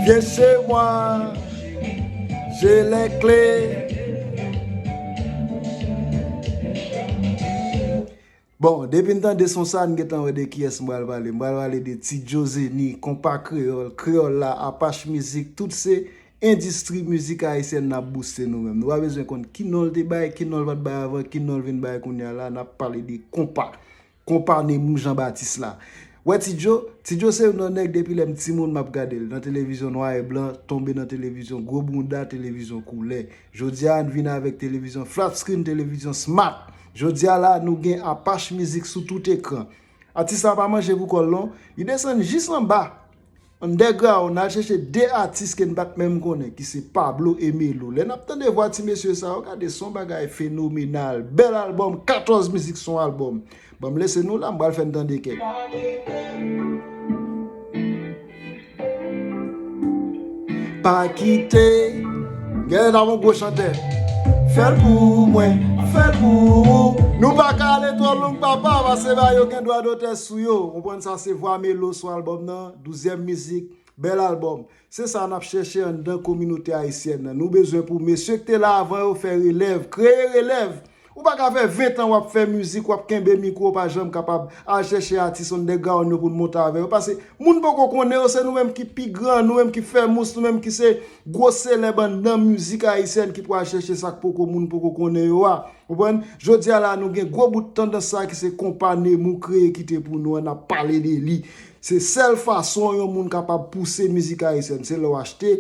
Vyen se mwa, se lè kle. Bon, depi n tande son sa, n gen tan wè de kiyès m pral pale. M pral pale de Ti Djo Zeni, Konpa Kreyòl, Kreyòl la, Apache Mizik, tout se endistri mizik ayisyèn n ap bouste nou menm. Nou pa bezwen konn ki non l te bay, ki non l pa t bay avan, ki non l vin bay kounya la, n ap pale de konpa. Konpa Nemou Jean Baptiste la. Wè Ti Djo? Ti Djo se youn nan nèg depi lè m timoun m ap gade l nan televizyon nwa e blan tonbe nan televizyon gwo bounda televizyon koulè. Jodi a n vin avèk televizyon flat screen televizyon smart. Jodi a la nou gen Apache Mizik sou tout ekran. Atis la pa manje pou kò l non. Li desann jis anba. Underground nal chèche 2 atis ke n pat menm konnen ki se Pablo e Melo lè nap tande vwa ti mesye sa yo gade son bagay fenomenal bèl album 14 mizik son album banm lese nou la m pral fè n tande kèk. sou yo ou konprann sa se vwa melo sou album nan douzyèm mizik bèl album se sa nap chèche anndan kominote ayisyèn nan nou bezwen pou mesye ki te la avan yo fè relèv kreye relèv ou paka fè 20 tan wap fè mizik wap kenbe mikwo ou pa janm kapab al chèche atis underground yo poun monte avè yo pase moun poko konnen yo se nou menm ki pi gran nou menm ki fè mous nou menm ki se Gwo selèb anndan mizik ayisyèn ki pral chèche sa k poko moun poko konnen yo a. Konprann? Jodi a la nou gen gwo bout tandans sa ki se konpa Nemou kreye kite pou nou an n ap pale de li. Se sèl fason yon moun kapab pouse mizik ayisyèn. Se lè w achte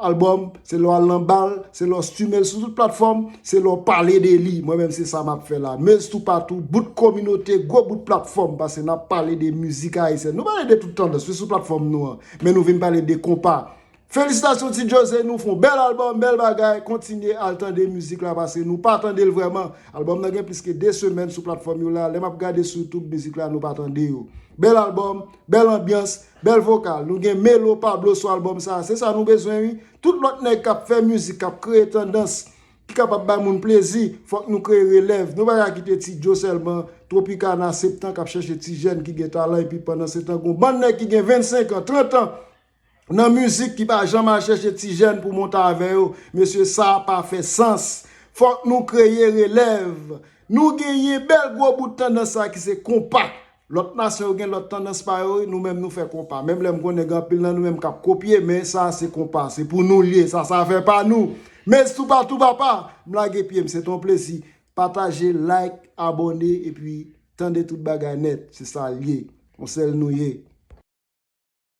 albòm, se lè w al nan bal, se lè w streame l sou tout platfòm, se lè w pale de li. Mwen menm se sa m ap fè la. Meus toupatou, bout kominote, gwo bout platfòm pase n ap pale de mizik ayisyèn. Nou pale de tout tandans wi sou platfòm nou an. Men nou vin pale de konpa. Felisitasyon ti jose nou fon bèl album bèl bagay kontinye al tande mizik la pase nou pa tande l vrèman album nan gen plis ke 2 semèn sou platfòm yo la lè map gade sou youtube mizik la nou pa tande yo bèl album bèl anbyans bèl vokal nou gen melo pablo sou album sa se sa nou bezwen wi tout lòt nèg kap fè mizik kap kreye tandans ki kapab bay moun plezi fòk nou kreye relèv nou pa ka kite ti jo sèlman tropicana septan kap chèche ti jèn ki gen talan epi pandan setan gon bann nèg ki gen 25 an 30 an Nan mizik ki pa janm al chèche ti jèn pou monte avè yo, mesye sa pa fè sans. Fòk nou kreye relèv. Nou genyen bèl gwo bout tandans sa ki se konpa. Lòt nasyon yo gen lòt tandans pa yo wi, nou menm nou fè konpa. Menm lè m konnen gen anpil nan nou menm k ap kopye, men sa se konpa, se pou nou l ye, sa se afè pa nou. Mezz toupatou papa, m lage pye m, se te yon plezi. Pataje, like, abòne epi tande tout bagay nèt, se sa l ye. Yon sèl nou ye.